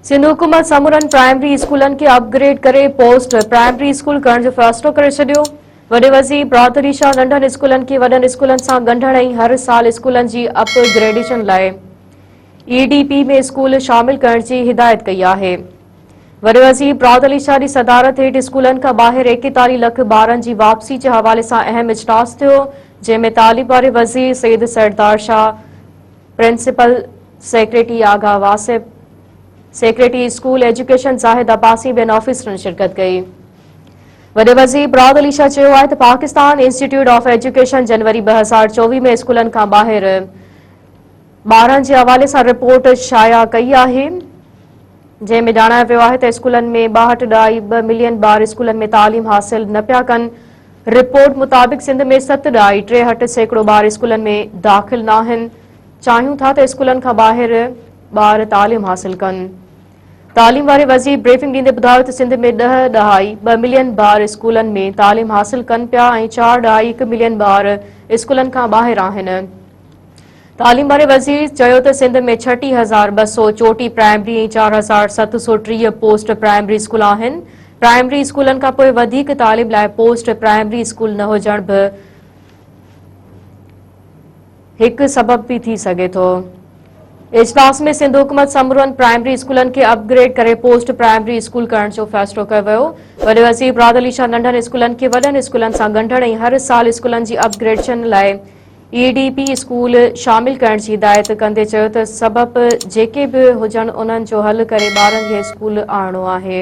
سنڌ حڪومت سمورن پرائمري اسڪولن کي اپ گريڊ ڪري پوسٽ پرائمري اسڪول ڪرڻ جو فيصلو ڪري ڇڏيو وڏي وزير برادري شاهه ننڍن اسڪولن کي وڏن اسڪولن سان ڳنڍڻ ۽ هر سال اسڪولن جي اپ گريڊيشن لاء اي ڊي پي ۾ اسڪول شامل ڪرڻ جي هدايت ڪئي آهي وڏي وزير برادري شاهه جي صدارت هيٺ اسڪولن کان ٻاهر ايڪيتاليهه لک ٻارن جي واپسي جي حوالي سان اهم اجلاس ٿيو جنهن ۾ تعليم واري وزير Syed Sardar Shah principal secretary Agha Wasif, secretary school education Zahid Abbasi ٻين آفيسرن شرڪت ڪئي. وڏي وزير مراد علي شاهه چيو آهي ته پاڪستان انسٽيٽيوٽ آف ايجوڪيشن جنوري ٻه هزار چوويهه ۾ اسڪولن کان ٻاهر ٻارن جي حوالي سان رپورٽ شايع ڪئي آهي. جنهن ۾ ڄاڻايو ويو آهي ته اسڪولن ۾ ٻاهٺ ڏهائي ٻه ملين ٻار اسڪولن ۾ تعليم حاصل نه پيا ڪن. رپورٽ مطابق سنڌ ۾ ست ڏهائي ٽيهٺ سيڪڙو ٻار اسڪولن ۾ داخل ناهن. چاهيون ٿا ته اسڪولن کان ٻاهر ٻار تعليم حاصل ڪن. تعليم واري وزير بريفنگ ڏيندي ٻڌايو ته سنڌ ۾ ڏهه ڏهائي ٻه ملين ٻار اسڪولن ۾ تعليم حاصل ڪن پيا ۽ چار ڏهائي هڪ ملين ٻار اسڪولن کان ٻاهر آهن. تعليم واري وزير چيو ته سنڌ ۾ ڇٽيهه هزار ٻه سؤ چوٽيهه پرائمري ۽ چار هزار ست سؤ ٽيهه پوسٽ پرائمري اسڪول آهن پرائمري اسڪولن کان پوء وڌيڪ تعليم لاء پوسٽ پرائمري اسڪول نه هجڻ به هڪ سبب به ٿي سگهي ٿو اجلاس ۾ سنڌ حڪومت سمورن پرائمري اسڪولن کي اپ گريڊ ڪري پوسٽ پرائمري اسڪول ڪرڻ جو فيصلو ڪيو ويو وڏي وزير براد علي شاهه ننڍن اسڪولن کي وڏن اسڪولن سان ڳنڍڻ ۽ هر سال اسڪولن جي اپ گريڊشن لاء اي ڊي پي اسڪول شامل ڪرڻ جي هدايت ڪندي چيو ته سبب جيڪي به هجن انهن جو حل ڪري ٻارن کي اسڪول آڻڻو آهي.